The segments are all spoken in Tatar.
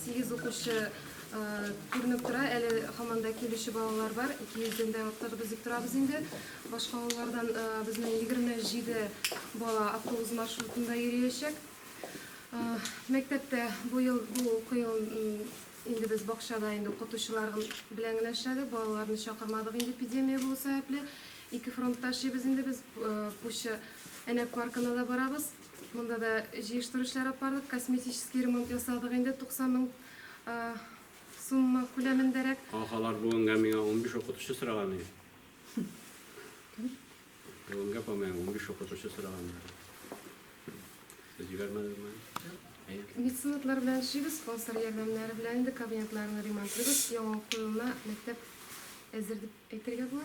Сигез укучы күренеп тора, әле һаман да килүче балалар бар, 200-дән дә артык без дип торабыз инде. Башка авыллардан безнең 27 бала автобус маршрутында йөриячәк. Мәктәптә бу ел бу уку елын инде без бакчада инде укытучылар белән генә эшләдек, балаларны чакырмадык инде эпидемия булу сәбәпле. Ике фронтта эшлибез инде без, Пуща Әнәк паркына да барабыз. Монда да җыештыру эшләре алып бардык, косметический ремонт ясадык инде, 90 мең сумма күләмендәрәк. Ха-халар бүгенгә миңа унбиш укытучы сораган иде. Бүгенгә по моему унбиш укытучы сораган иде. Сез җибәрмәдегезме әле? Әйе. Меценатлар белән эшлибез, спонсор ярдәмнәре белән инде кабинетларны ремонтлыйбыз, яңа уку елына мәктәп әзер дип әйтергә була.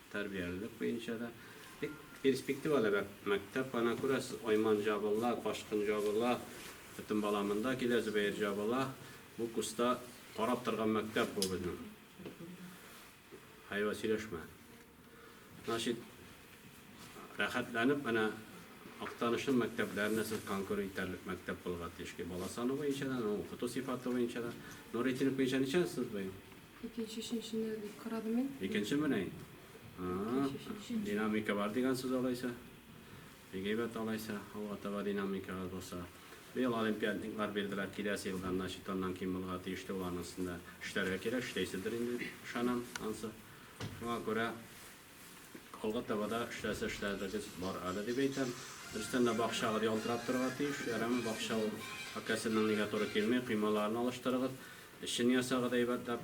Тәрбиялелек буенча да бик перспективалы мәктәп. Ана күрәсез, айман җабыла, кашкын җабыла, бөтен бала монда килә, Зөбәер җабыла. Бу куста карап торган мәктәп бу безнең. Хайва сөйләшмә. Значит, рәхәтләнеп менә Актанышның мәктәпләренә сез конкур итәрлек мәктәп булырга тиеш. Бала саны буенча да, укыту сыйфаты буенча да. Нуретдинов буенча ничәнче сез быел? Икенче, өченчене дип карадым мин. Икенче менә инде. Динамика бар дигән сүз алайса. Бик әйбәт алайса, алга таба динамикагыз булса. Быел олимпиадниклар бирделәр, киләсе елдан, значит, аннан ким булырга тиеш тә ул анысында. Эшләргә кирәк, эшләйсездер инде, ышанам ансы. Шуңа күрә Алга таба да эшләсә эшләрлегез бар әле дип әйтәм. Берстән дә бакчагыз ялтырап торырга тиеш. Ярамый, бакча ул акәсеннән нигә туры килми. Коймаларын алыштырыгыз. Эчен ясагыз әйбәтләп.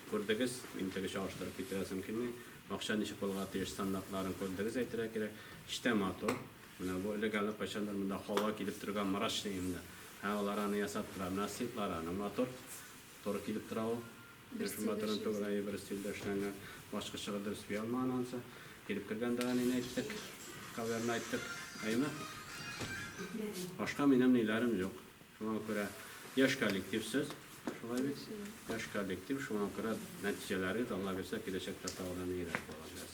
Күрдегез, мин теге чагыштырып китерәсем килми. Бакча ничек булырга тиеш, стандартларын күрдегез, әйтергә кирәк. Эчтә матур. Менә бу элек әле кайчандыр монда халва килеп төргән мрачныйым да. Ә алар аны ясап тора. Менә сыйтлары аны матур. Туры килеп тора ул. Бер Шул стильдә матурын түгел, эшләгән. әйе, бер стильдә эшләнгән. Башка чыгып дөрес сөя алмаган анысы. Килеп кергән дә әнине әйттек, кавемне әйттек. Әйеме? Башка минем ниләрем юк. Шуңа күрә яшь коллектив сез, шулай бит? Яшь коллектив, шуңа күрә нәтиҗәләрегез, Алла бирсә, киләчәктә тагын да ниегрәк булыр.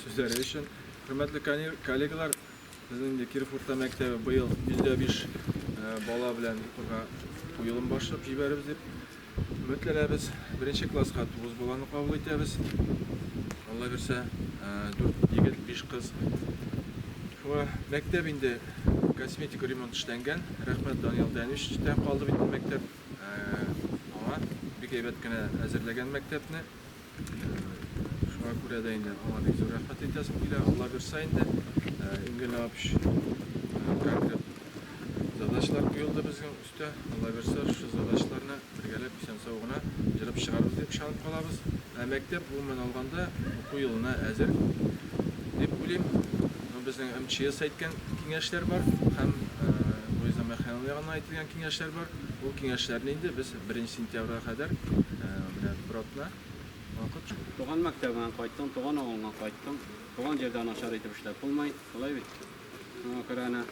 сүзләре өчен. Хөрмәтле коллегалар, безнең инде Киров урта мәктәбе быел 105 бала белән укырга куелым башлап җибәребез дип Өметләнәбез, беренче класска тугыз баланы кабул итәбез. Алла бирсә, дүрт егет, биш кыз. Шуңа мәктәп инде косметик ремонт эшләнгән. Рәхмәт Даниял Дәничтән калды бит мәктәп. Аңа бик әйбәт кенә әзерләгән мәктәпне. Шуңа күрә дә инде аңа бик зур рәхмәт әйтәсем килә. Алла бирсә инде, иң генә апш конкрет задачалар куелды безнең. Тә, аллабирса, шушы задачаларны бергәләп исән-сау гына җырып чыгарбыз дип ышанып калабыз. Ә мәктәп, гомумән алганда, уку елына әзер дип уйлыйм. Ну, безнең МЧС әйткән киңәшләр бар һәм Луиза Михайловна ягыннан әйтелгән киңәшләр бар. Ул киңәшләрне инде без беренче сентябрьгә кадәр менә бер атна вакыт. Туган мәктәбеңә кайттың, туган авылыңа кайттың. Туган җирдә начар итеп эшләп булмый, шулай бит? Шуңа күрә әнә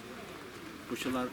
укучылар.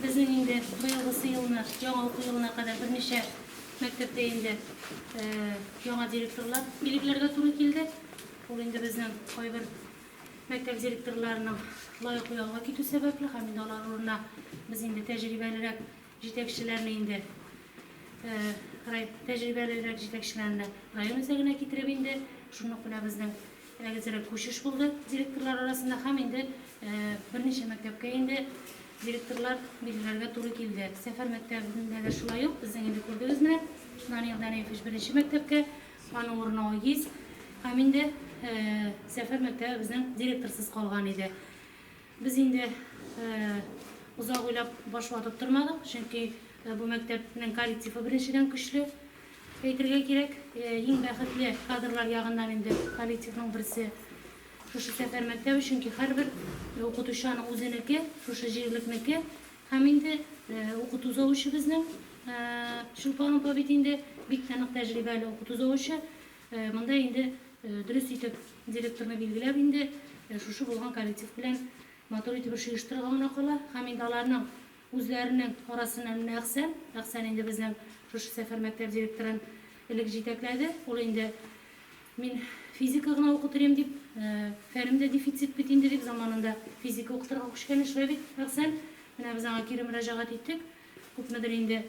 Безнең инде быелгы сыелны, яңа уку елына кадәр берничә мәктәптә инде яңа директорлар, билетләргә туры килде. Ул инде безнең кайбер Мәктәп директорларының лаеклы ялга китү сәбәпле һәм инде алар урынына без инде тәҗрибәлерәк җитәкчеләрне инде тәҗрибәлерәк җитәкчеләрне район үзәгенә китереп инде шуны ук менә безнең әзерәк күчеш булды директорлар арасында һәм инде берничә мәктәпкә инде директорлар билгеләргә туры килде. Сәфәр мәктәбендә дә шулай ук безнең инде күрдегез менә Данил Данилович беренче мәктәпкә Аның урынына ул ес һәм инде Зәфәр мәктәбе безнең директорсыз калган иде. Без инде озак уйлап баш ватып тормадык, чөнки бу мәктәпнең коллективы беренчедән көчле әйтергә кирәк. Иң бәхетле кадрлар ягыннан инде коллективның берсе шушы Зәфәр мәктәбе, чөнки һәрбер укытучы аның үзенеке, шушы җирлекнеке. Һәм инде укыту завучыбызның Чулпан апа бит инде бик тә нык тәҗрибәле укыту завучы. Монда инде дөрес итеп директорны билгеләп инде шушы булган коллектив белән матур итеп эш оештырырга гына кала. Һәм инде аларның үзләренең арасыннан менә Әхсән, Әхсән инде безнең шушы сәфәр мәктәп директорын элек җитәкләде. Ул инде Мин физика гына укытыр идем дип, фәнем дә дефицит бит инде дип, заманында физика укытырга күчкән иде шулай бит, Әхсән. Менә без аңа кире мөрәҗәгать иттек. Күпмедер инде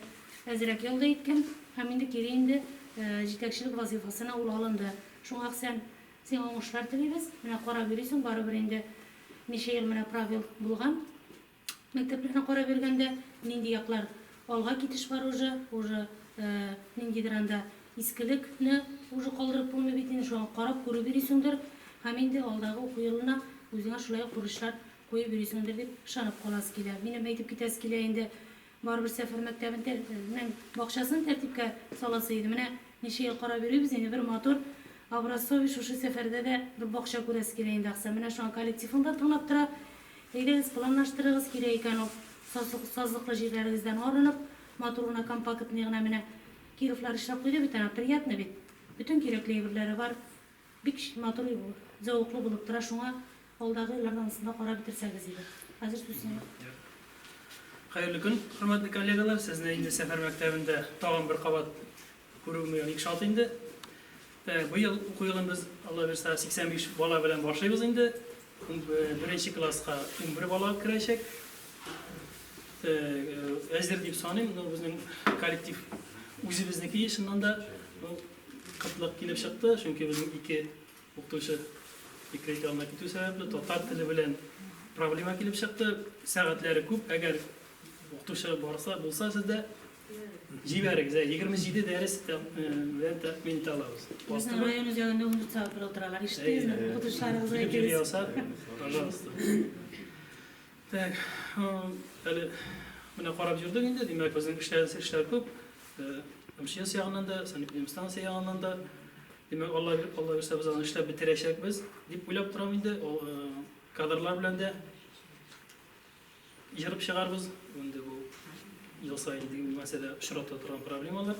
әзрәк ял да иткән. Һәм инде кире инде җитәкчелек вазыйфасына ул алынды. Шуңа, Әхсән, сиңа уңышлар телибез. Менә карап йөрисең, барыбер инде ничә ел менә пробел булган. Мәктәпләрне карап йөргәндә нинди яклар алга китеш бар уже, уже ниндидер анда искелек не уже калдырып булмый бит инде, шуңа карап күреп йөрисеңдер һәм инде алдагы уку елына үзеңә шулай ук бурычлар куеп йөрисеңдер дип ышанып каласы килә. Минем әйтеп китәсе килә инде Барыбер Сәфәр мәктәбен тәр нең бакчасын тәртипкә саласы иде. Менә ничә ел карап йөрибез инде, бер матур, образцовый Шушы сәфәрдә дә бер бакча күрәсе килә инде, Аксай. Менә шуңа коллектив ын да тыңлап тора. Әйдәгез, планлаштырыгыз, кирәк икән ул сазлык сазлыклы җирләрегездән арынып, матур гына компактный гына менә Кировлар эшләп куйды бит ана, приятно бит. Бөтен кирәкле әйберләре бар. Бик матур зәвыклы булып тора шуңа алдагы елларда анысын да карап бетерсәгез иде. Хәзер сүз сиңа. Хәерле көн, хөрмәтле коллегалар. Сезне инде сәфәр мәктәбендә тагын бер кабат күрүемә бик шат инде. Э, быел уку елын без Алла бирса 85 бала белән башлыйбыз инде. Э, беренче класска 11 бала керәчәк. Э, әзер дип саныйм, но безнең коллектив үзебезнеке, чыннан да, Кытлык килеп чыкты, чөнки безнең ике укытучы декрет ялына китү сәбәпле, татар теле белән проблема килеп чыкты. Сәгатьләре күп, әгәр укытучы барса, булса сездә, җибәрегез, 27 дәрес белән тәэмин итә алабыз. Безнең район үзәгендә 14 сәгать бер утыралар, ишеттегезме? Укытучыларыбызга әйтегез. Җибәрегез, пожалуйста. Так, әле менә карап йөрдек инде, димәк, безнең эшләрсез эшләр күп. МЧС ягыннан да, санэпидемстанция ягыннан да. Димәк, Алла Алла бирсә без аны эшләп бетерәчәкбез дип уйлап торам инде. Ул кадрлар белән дә җырып чыгарбыз. Инде бу ел саен дигән мәсьәлә очрата торган проблемалар.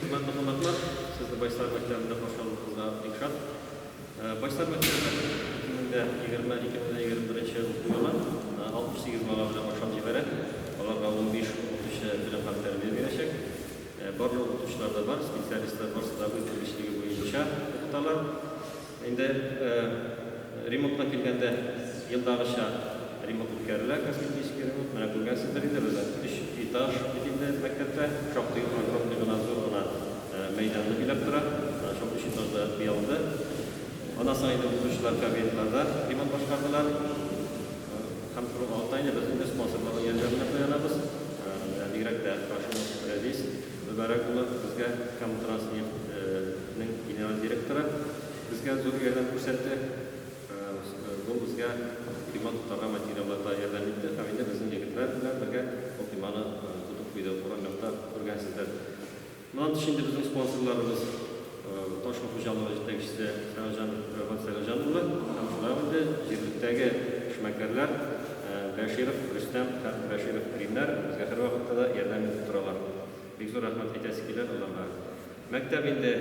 Хөрмәтле кунаклар, сезне Байсар мәктәбендә каршы алуыбызга бик шат. Байсар мәктәбе 2020-2021 уку елы 68 бала белән башлап җибәрә. Аларга 15 укытучы белем һәм тәрбия бирәчәк. Барлык укытучылар да бар, специалистлар барысы да үз белгечлеге буенча укыталар. Инде ремонтка килгәндә, елдагыча ремонт үткәрелә, косметический ремонт. Менә күргәнсездер инде, бездә өч этаж бит инде мәктәптә. Шактый огромный гына, зур гына мәйданны биләп тора. Менә шул өч этаж да буялды. Аннан соң инде укытучылар кабинетларда ремонт башкардылар. Һәм шуның алдында инде без инде спонсорларның ярдәменә таянабыз. Менә бигрәк тә каршыбыз рәдис. Мөбарәк улы безгә һәм Транснефть нең генераль директоры безгә зур ярдәм күрсәтте. Ул безгә койма тотарга материалларда ярдәм итте һәм инде безнең егетләр белән бергә ул койманы тотып куйды, урам якта күргәнсездер. Моннан тыш инде безнең спонсорларыбыз. Ташма хуҗалыгы җитәкчесе Сәгъҗан Рәфат Сәгъҗан улы һәм шулай ук инде җирлектәге эшмәкәрләр Бәширов Рөстәм һәм Бәширов Ринар безгә һәрвакытта да ярдәм итеп торалар. Бик зур рәхмәт әйтәсе килә аларга. Мәктәп инде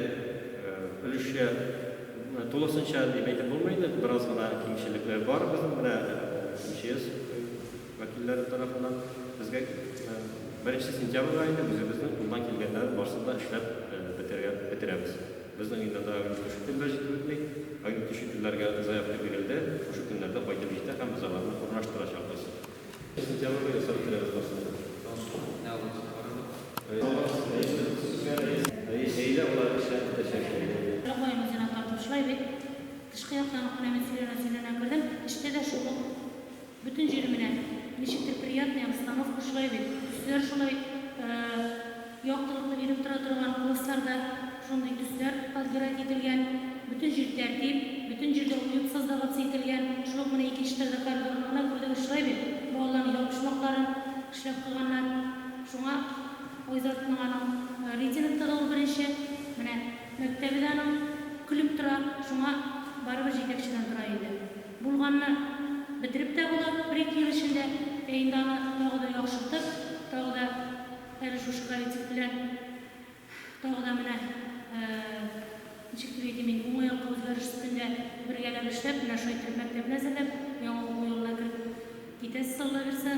өлешчә, тулысынча дип әйтеп булмый инде, бераз гына кимчелекләр бар безнең менә МЧС, вәкилләре тарафыннан безгә беренче сентябрьгә инде үзебезнең кулдан килгәннәрен барсын да эшләп бетерә, бетерәбез. Безнең өйдә дә аерым шушы көннәр җитеп бетми. Аерым төче көннәргә заявка бирелде, шушы көннәрдә кайтып җитә һәм без аларны урнаштырачакбыз. Сентябрьгә ясап бетерәбез барсын да. Әйдә, болар эшләп бетәчәк инде. Апаем үзенә тартып шулай бит. Тышкы яктан ук менә мин сөйләнә-сөйләнә кердем. Эчтә дә шул ук. Бөтен җире менә ничектер приятный, обстановка шулай бит, төсләр шулай яктылыкны биреп тора торган, классларда шундый төсләр подбирать ителгән, бөтен җир тәртип, бөтен җирдә уют создаваться ителгән, шул ук менә икенче этажда коридорны гына күрдегез, шулай бит, балаларның ябышмакларын эшләп куйганнар, шуңа Айзатның аның рейтинг тыгы ул беренче, менә мәктәбе дә аның көлеп тора, шуңа барыбер җитәкчедән тора инде. Булганны бетереп тә була бер-ике ел эчендә, ә инде аны тагы да яхшыртып, тагы да әле шушы коллектив белән тагы да менә, ничек дип әйтим мин, уңай якка үзгәреш өстендә бергәләп эшләп, менә шулай итеп мәктәпне әзерләп, яңа уку елына кереп китәсез, Аллабирса.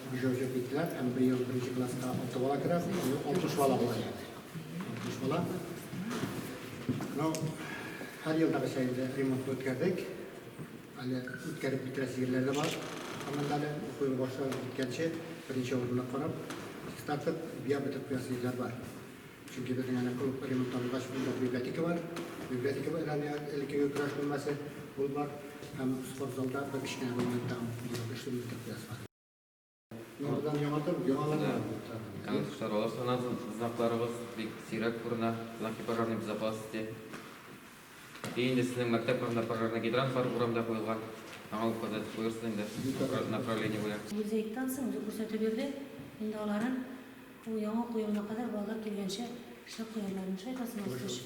Уже-уже битләп, эмбрион беренче класска алты бала керә, алтмыш бала була янә. Алтмыш бала. Ну, һәр елдагыча инде ремонт үткәрдек. Әле үткәреп бетерәсе җирләр дә бар. Анда әле уку елы башланып киткәнче беренче урынны карап, чистартып, бия бетеп куясы җирләр бар. Чөнки безнең әнә клуб ремонтлангач, монда библиотека бар. Библиотека бар, әнә элеккеге көрәш бүлмәсе, ул бар. Һәм спортзалда бер кечкенә бүлмә тагын эшле мәктәп класс бар. Мин мондан яңартып, яңалана. Кәмәт чаралар санады, знакларыбыз бик сирәк күренә, знаки пожарный безопасности. И инде сезнең мәктәп урында пожарный гидрант бар, урамда куелган. Аңа указать куерсын инде, направление буя. Музейдан соң күрсәтеп йөрде. Инде аларын Ул яңа уку елына кадәр балалар килгәнчә эшләп куярлармы, шайтасын алсын өчен.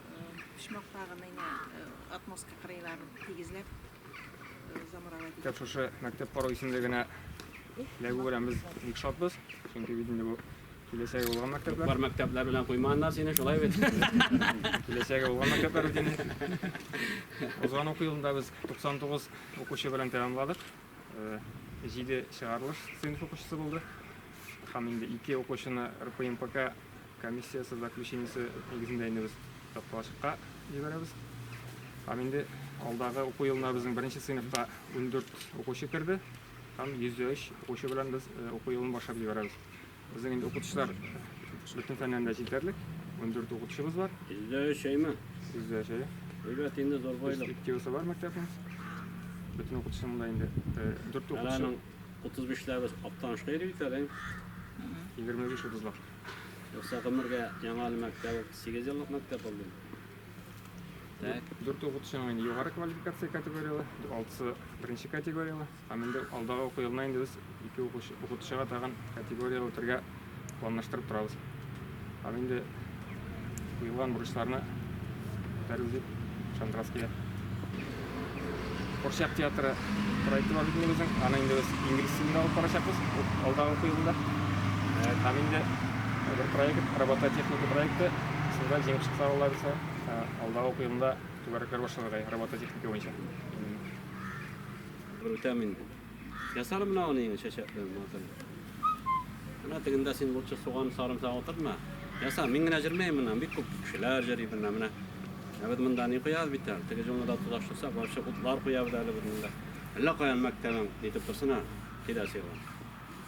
почмакта гына инде э, отмостка кырыйларын тигезләп э, замуровать итеп. Шушы мәктәп кору исемлегенә эләгү белән без бик шатбыз, чөнки бит инде бу киләчәге булган мәктәпләр. Бар мәктәпләр белән куймаганнар сине, шулай бит? Киләчәге булган мәктәпләр бит инде. Узган уку елында без 99 укучы белән тәмамладык. 7 э, чыгарылыш сыйныф укучысы булды. Һәм инде 2 укучыны РПМПК Комиссиясе заключениесе нигезендә инде без тарткалачыкка җибәрәбез. Һәм инде алдагы уку елына безнең беренче сыйныфка ундүрт укучы керде һәм йөз дә өч укучы белән без э, уку елын башлап җибәрәбез. Безнең инде укытучылар бөтен фәннән дә җитәрлек, ундүрт укытучыбыз бар, Йөз дә өч әйме? йөз дә өч әйе. Әйбәт инде зур байлык. Перспективасы бар мәктәпнең. Бөтен укытучының да инде э, дүрт укытучы, Аның 35 ләбез аптанышка йөри бит әле. егерме биш утызлап. Юкса гомергә яңа әле мәктәп ул 8 еллык мәктәп булды. Так. Дүрте укытучының инде югары квалификация категорияле, алтысы беренче категорияле. Һәм инде алдагы уку елына инде без ике укучы, укытучыга тагын категория үтәргә планлаштырып торабыз. Һәм инде Куелган бурычларны күтәрү дип шандрас килә. Курчак театры проекты бар бит инде Аны инде без инглиз телендә алып барачакбыз алдагы уку елында. Э, там инде бер проект, робототехника проекты. Шунда җиңеп чыкса алла бирсә, э, алдагы уку елында түгәрәкләр башларга робототехника буенча. Бер үтәм инде. Ясар менә аны инде чәчәк белән матур. Менә тегендә син лучше суган сарымсак утыртма. Яса, мин генә җырмыйм моннан, бик күп кешеләр җырый моннан менә. Ә без монда ни куябыз бит әле? Теге җылны да тулаштырсак, барча утлар куябыз әле без монда. Әллә каян мәктәбең нитеп торсын ә? Киләсе елга.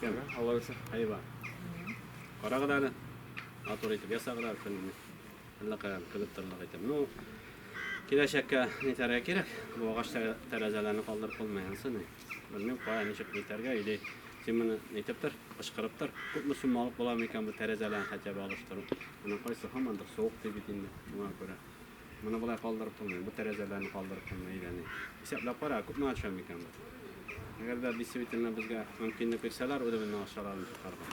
Кем? Алла үсә. Әйба. Карагыз әле. Матур итеп ясагыз әле көнне. Әрләкаен кебек торлык итеп. Ну, киләчәккә нитәргә кирәк? Бу агач тәрәзәләрне калдырып булмый ансы ни. Белмим, кая ничек нитәргә или син моны нитеп тор, кычкырып тор. Күпме сумма алып була микән бу тәрәзәләрне хотя бы алыштыру? Моның кайсы һаман да суык ди бит инде. Шуңа күрә моны болай калдырып булмый. Бу тәрәзәләрне калдырып булмый или ни. Исәпләп кара, күпме ача микән бу? Әгәр дә действительно безгә мөмкинлек бирсәләр, үзебезнең акчаларны чыгарга.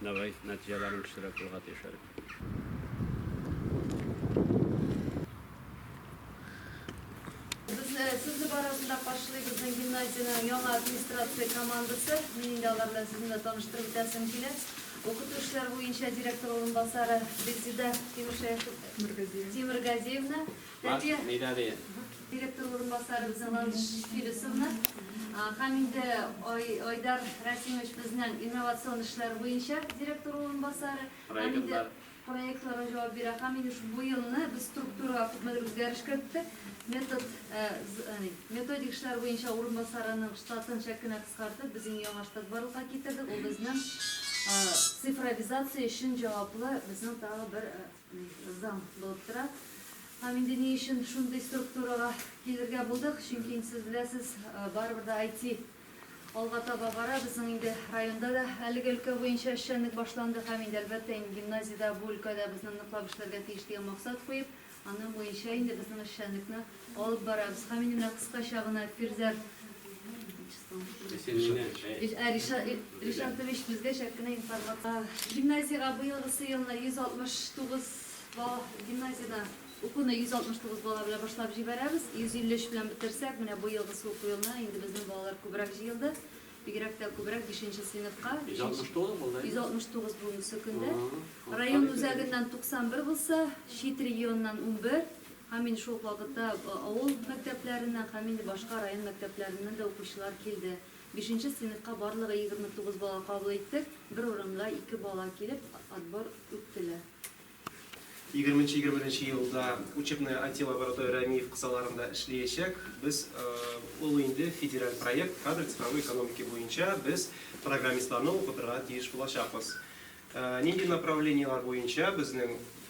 Давай, нәтиҗәләрен кешеләр күрергә тиеш әле. Э, Сезне барасында каршылый безнең гимназиянең яңа администрация командасы. Мин инде алар белән сезне дә таныштырып үтәсем килә. Укыту эшләре буенча директор урынбасары Резида Тимиргазиевна, Тәрбия директор урынбасары Зеландыш Филисовна һәм инде Айдар Расимович безнең инновацион эшләр буенча директор урынбасары һәм инде проектларга җавап бирә һәм инде бу елны без структурага күпмедер үзгәреш керттек. Метод э, э, методик эшләр буенча урынбасарының штатын чак кенә кыскартып, без инде яңа штат барлыкка китердек. Ул безнең э, цифровизация өчен җаваплы безнең тагы бер Зам доктора. Һәм инде ни өчен шундый структурага килергә булдык? Чөнки инде сез беләсез, барыбер дә IT алга таба бара. Безнең инде районда да әлеге өлкә буенча эшчәнлек башланды һәм инде әлбәттә инде гимназиядә бу өлкәдә безне ныклап эшләргә тиеш дигән максат куеп, аның буенча инде безнең эшчәнлекне Алып барабыз һәм инде менә кыскача гына Пирзәр Ришат Тович безгә чәк кенә информация. Гимназиягә быелгысы елына 169 бала гимназиядә укуны 169 бала белән башлап җибәрәбез. 153 белән бетерсәк, менә быелгысы уку елына инде безнең балалар күбрәк җыелды. Бигрәк тә күбрәк 5-нче сыйныфка. 169 булды. 169 бүгенге көндә. Район үзәгеннән 91 булса, чит регионнан 11. Һәм инде шул ук вакытта авыл мәктәпләреннән һәм инде башка район мәктәпләреннән дә укучылар килде. Бишенче сыйныфка барлыгы егерме тугыз бала кабул иттек, бер урынга ике бала килеп, отбор үттеләр. Егерменче-егерме беренче елда учебная IT-лаборатория МИИФ кысаларында эшлиячәк. Без, ул инде федераль проект, кадры цифровой экономики буенча без программистларны укытырга тиеш булачакбыз. Нинди направлениеләр буенча безнең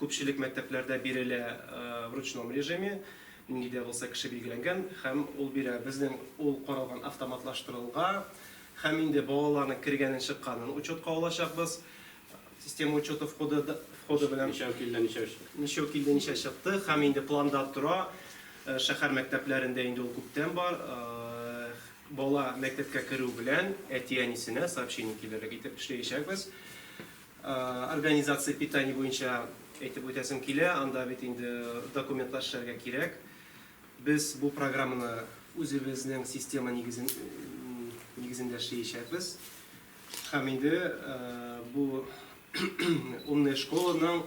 Күпчелек мәктәпләрдә бирелә в ручном режиме, нинди дә булса кеше билгеләнгән һәм ул бирә. Безнең ул каралган автоматлаштырылга һәм инде балаларның кергәнен чыкканын учетка алачакбыз. Система учета входы входы белән. Ничәү килде, ничәү чыкты. Ничәү килде, ничә чыкты һәм инде планда тора. Шәһәр мәктәпләрендә инде ул күптән бар. Бала мәктәпкә керү белән әти-әнисенә сообщение килерлек итеп эшләячәкбез. Организация питание буенча әйтеп үтәсем килә, анда бит инде документлар эшләргә кирәк. Без бу программаны үзебезнең система нигезен нигезендә эшлиячәкбез. Һәм инде бу умная школаның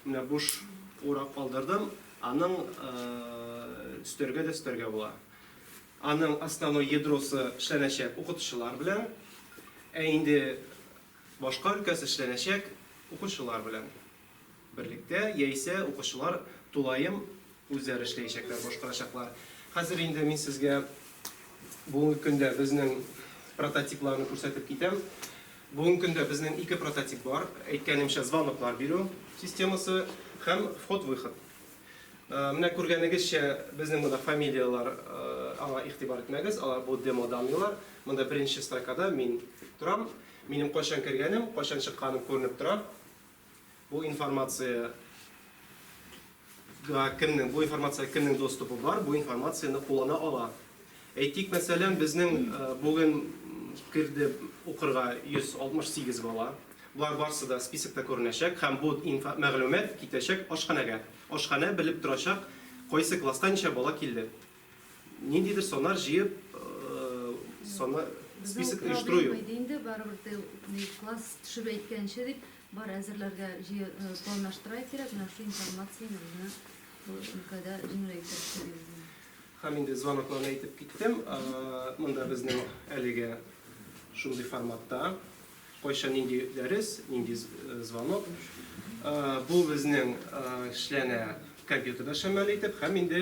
менә буш урак калдырдым, аның өстәргә дә өстәргә була. Аның основной ядросы эшләнәчәк укытучылар белән. Ә инде Башка өлкәс эшләнәчәк укучылар белән берлектә яисә укучылар тулаем үзләре эшләячәкләр, башкарачаклар. Хәзер инде мин сезгә бүгенге көндә безнең прототипларны күрсәтеп китәм. Бүгенге көндә безнең ике прототип бар, әйткәнемчә, звоноклар бирү системасы һәм вход-выход. Менә күргәнегезчә, безнең монда фамилияләр, аңа игътибар итмәгез, алар бу демо данныйлар. Монда беренче строкада мин торам. Минем кайчан кергәнем, кайчан чыкканым күренеп тора. Бу информация га кемнең, бу информация кемнең доступы бар, бу информацияне куллана ала. Әйтик, мәсәлән, безнең бүген керде укырга 168 бала. Болар барсы да списокта күренәчәк һәм бу мәгълүмат китәчәк ашханәгә. Ашханә белеп торачак, кайсы класста ничә бала килде. Ниндидер саннар җыеп, саннар, список оештыру юк. Бу проблема иде инде, барыбер тел, класс төшеп әйткәнче дип, бар әзерләргә планлаштыра кирәк, менә шул информация безне бу өлкәдә җиңеләйтер дип уйлыйм. Һәм инде звонокларны әйтеп киттем. Монда безнең әлегә шундый форматта. Кайчан нинди дәрес, нинди звонок. Бу безнең эшләнә компьютерда шәмәл итеп һәм инде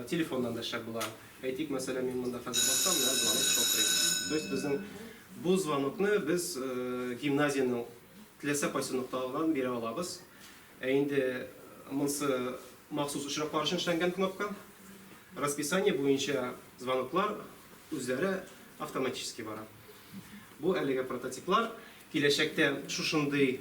телефоннан да шәп була. Әйтик, мәсәлән, мин монда хәзер бассам, менә звонок шалтырый. То есть безнең бу звонокны без гимназиянең теләсә кайсы нокталарыннан бирә алабыз. Ә инде монсы махсус очраклар өчен эшләнгән кнопка. Расписание буенча звоноклар үзләре автоматически бара. Бу әлеге прототиплар. Киләчәктә шушындый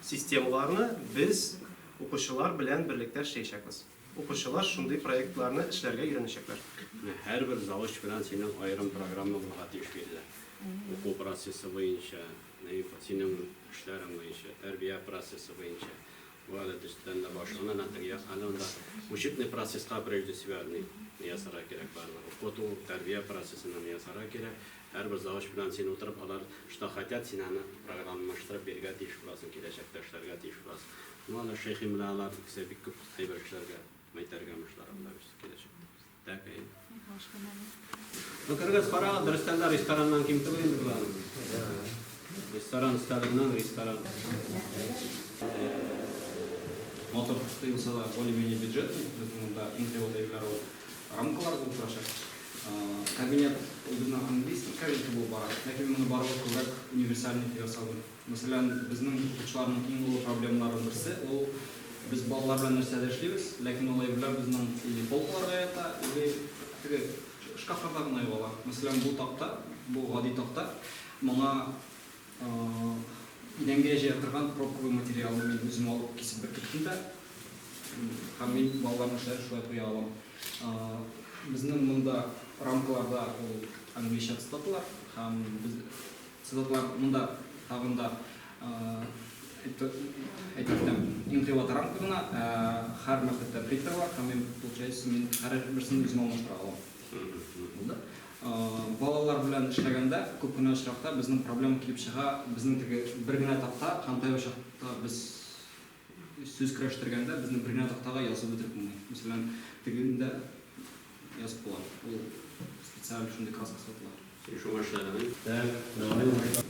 системаларны без укучылар белән берлектә эшләячәкбез. Укучылар шундый проектларны эшләргә өйрәнәчәкләр. Һәрбер завуч белән синең аерым программаларга тиеш бирелә. Уку процессы буенча. Наиф, синең эшләрең буенча, тәрбия процессы буенча, бу әле төстән дә башлана, нәкъ я әле анда учебный процесска прежде всего әле ясарга кирәк барлык. Укыту, тәрбия процессына ясарга кирәк. Һәрбер завуч белән син утырып, алар что хотят, син аны программалаштырып бирергә тиеш буласың, киләчәктә эшләргә тиеш буласың. Ну, аны Шәйхи белән алар исә бик күп әйбер эшләргә, мәйтәргә мышлар алар өчен киләчәктә. Бөкергез, карагыз, дөрестән дә рестораннан ким түгел инде болар. Ресторан өстәленнән ресторан. Мотор төште булса да, более-менее бюджет, монда инде вот әйберләр ул рамкалар булып торачак. Кабинет, ул безнең английский кабинет булып бара. Ләкин моны барыбыз күбрәк универсальный дип ясалган. Мәсәлән, безнең укытучыларның иң олы проблемаларының берсе, ул без балалар белән нәрсә дә эшлибез, ләкин ул әйберләр безнең или полкаларда ята, или теге шкафларда гына югала. Мәсәлән, бу такта, бу гади такта, моңа идәнгә җыя торган пробковый материалны мин үзем алып кисеп беркеттем дә, һәм мин балаларның эшләрен шулай куя алам. Безнең монда рамкаларда ул английча цитаталар, һәм без Сызыклар монда тагын да әйтелгән инкыйлат рамка гына, һәр мәктәптә принтер бар, һәм мин получается мин һәр берсен үзем алмаштыра алам. Булды. Балалар белән эшләгәндә күп кенә очракта безнең проблема килеп чыга, безнең теге бер генә такта, һәм тайбачакта без Сүз көрәштергәндә безне бер генә тактага язып бетереп булмый. Мәсәлән, тегендә язып була. Ул специаль шундый краска сатыла. Сөйләшү башлаганын. Так, давай башла.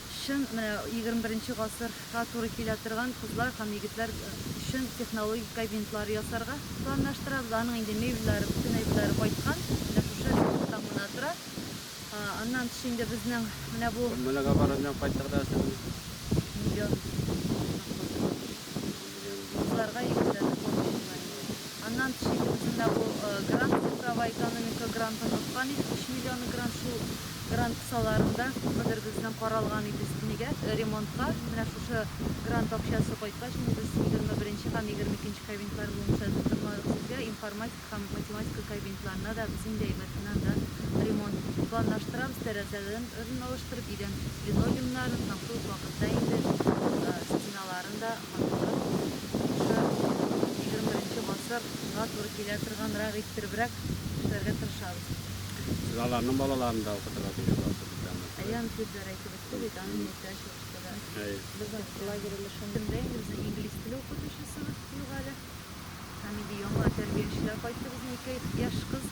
Чын менә егерме беренче гасырга туры килә торган кызлар һәм егетләр өчен технологик кабинетлар ясарга планлаштырабыз. Аның инде мебельләре, бөтен әйберләре кайткан. Менә шушы ремонттан гына тора. Аннан тыш инде безнең менә бу. Күрмәләгә барган җан кайтты кадәр сезнең. Миллион. Кызларга егетләрне борчый була инде. Аннан тыш инде үзендә бу грант цифровая экономика грантын откан идек, өч миллионы грант, шул грант кысаларында күпмедер безнең каралган иде өстенегә, ремонтка, менә шушы грант акчасы кайткач инде без егерме беренче һәм егерме икенче кабинетлар буенча тутырмадык сезгә информатика, һәм математика кабинетларына да без инде әйбәтеннән дә ремонт планлаштырабыз, тәрәзәләрен ырын алыштырып, идән линолеумнарын һәм шул ук вакытта инде стеналарын да матуррак шушы егерме беренче гасыр га туры килә торганрак иттеребрәк эшләргә тырышабыз. Сез аларның балаларын да укытырга тиеш буласыз бит аны. Әйе, аны сүзләр әйтеп үтте бит, аны мин әйтә чыгышта да әйттем. Әйе. Безнең лагерь өлешендә инде безнең инглиз теле укытучысыбыз юк әле. Һәм инде яңа тәрбиячеләр кайтты, безнең ике яшь кыз,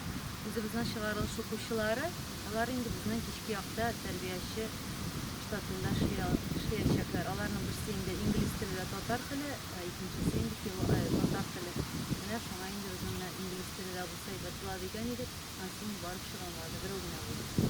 үзебезнең чыгарылыш укучылары. Алар инде безнең кичке якта тәрбияче штатында эшләячәкләр. Аларның берсе инде инглиз теле дә татар теле, ә икенчесе инде татар теле. Менә шуңа инде без менә инглиз теле дә булса әйбәт була дигән идек, анысы инде барып чыга алмады, берәү генә булды.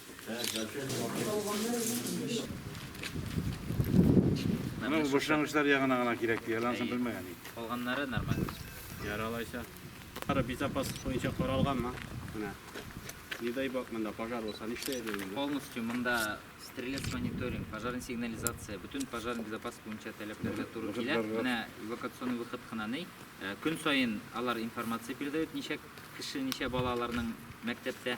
Менә башлангычлар ягына гына кирәк диелә, ансын белмәгән идек. Калганнары нормаль. Яралайча. Ара безопасность буенча каралганмы? Менә. Не дай бог монда пожар булса, нишләр идең? Полностью монда стрелец мониторинг, пожарный сигнализация, бөтен пожарный безопасность буенча таләпләргә туры килә. Менә эвакуационный выход кына ни. Э, көн саен алар информация передают, ничә кеше, ничә бала аларның мәктәптә.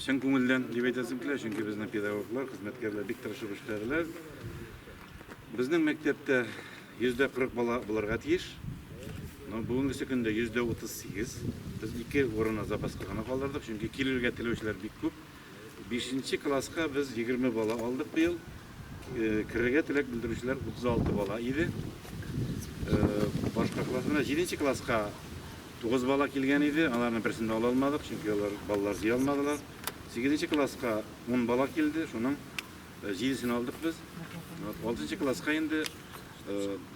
Чын күңелдән дип әйтәсем килә, чөнки безнең педагоглар, хезмәткәрләр бик тырышып эшләделәр. Безнең мәктәптә 140 бала булырга тиеш. Но бүгенгесе көндә 138. Без ике урынны запаска гына калдырдык, чөнки килергә теләүчеләр бик күп. 5 класска без 20 бала алдык быел. Э, керергә теләк белдерүчеләр 36 бала иде. Э, башка классларда 7 класска Тугыз бала килгән иде, аларның берсен дә ала алмадык, чөнки алар баллар җыя алмадылар. Сигезенче класска ун бала килде, шуның җидесен алдык без. Алтынчы класска инде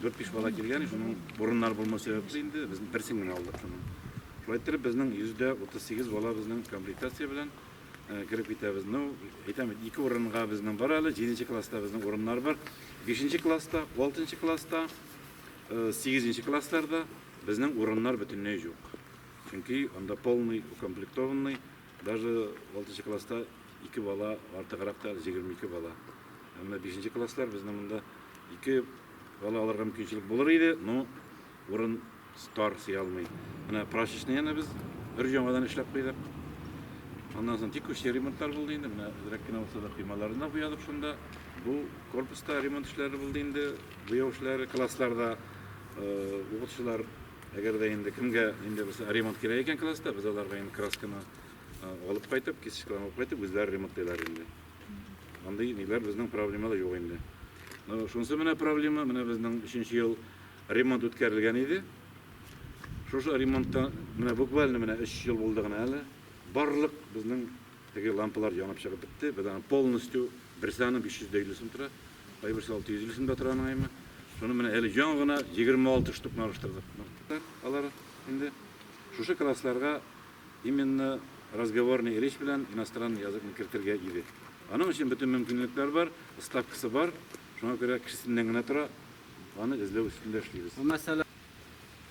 дүрт-биш бала килгән, шуның урыннар булмау сәбәпле инде без берсен генә алдык шуның. Шулай иттереп безнең 138 бала безнең комплектация белән кереп китәбез. Ну, әйтәм, ике урынга безнең бар әле, җиденче класста безнең урыннар бар. Бишенче класста, алтынчы класста, сигезенче классларда Безнең урыннар бөтенләй җук. Чөнки анда полный укомплектованный, даже алтынчы класста ике бала, артыграк та, җигерме ике бала. Ә менә бишенче класслар безнең монда ике бала алырга мөмкинчелек булыр иде, но урын тар, сыя алмый. Менә прачечнияне без бер яңадан эшләп куйдык. Аннан соң текущий ремонтлар булды инде, менә әзрәк кенә булса да коймаларын да буядык шунда. Бу корпуста ремонт эшләре булды инде, буяу эшләре классларда. Укытучылар, әгәр дә инде кемгә инде булса ремонт кирәк икән класста, без аларга инде красканы алып кайтып, кисточкалар алып кайтып, үзләре ремонтлыйлар инде. Андый ниләр безнең проблемалар юк инде. Ну, шунсы менә проблема, менә безнең 3 ел ремонт үткәрелгән иде. Шушы ремонтта менә буквально менә 3 ел булды гына әле. Барлык безнең Теге лампалар янып чыгып бетте. Без аны полностью берсе аны 550 сум тора, кайберсе 650 сум да тора аның әйме. Шуны менә әле ян гына 26 штук алыштырдык. Алар инде шушы классларга именно разговорный речь белән иностранный языкны кертергә иде. Аның өчен бөтен мөмкинлекләр бар, ставкасы бар. Шуңа күрә кешесеннән генә тора. Аны эзләү өстендә эшлибез.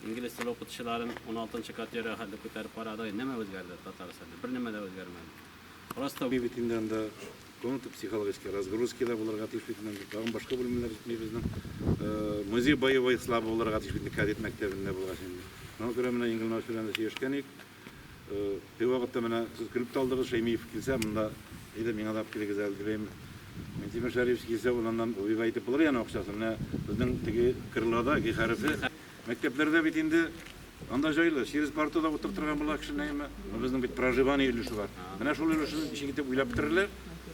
Инглиз теле укытучыларын 16 категория хәтле күтәреп карадык. Нәмә үзгәрде Татарстанда? Бер нәмә дә үзгәрмәде. Просто бит инде анда комната психологический разгрузки да булырга тиеш бит инде. Тагын башка бүлемнәр җитми безнең. Музей боевой славы булырга тиеш бит инде кадет мәктәбендә булгач инде. Шуңа күрә менә Ингл Наус белән дә сөйләшкән идек. Бер вакытта менә сез көлеп тә алдыгыз, Шәймиев килсә монда, әйдә миңа да алып килегез әле, дип әйм. Минтимер Шәрифович килсә, ул аннан Убига әйтеп булыр яны акчасын. Менә безнең теге кырлада, Г хәрефе, мәктәпләрдә бит инде анда җайлы, через парту да утыртырга була кешене, әйме. Ну безнең бит проживание өлеше бар. Менә шул өлешен ничек итеп уйлап бетерерләр,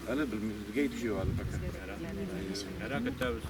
әле белмибез, безгә итүче юк әле пока. Рәхмәт. Рәхмәт. Әйе. Әйе. Рәхмәт. Көтәбез.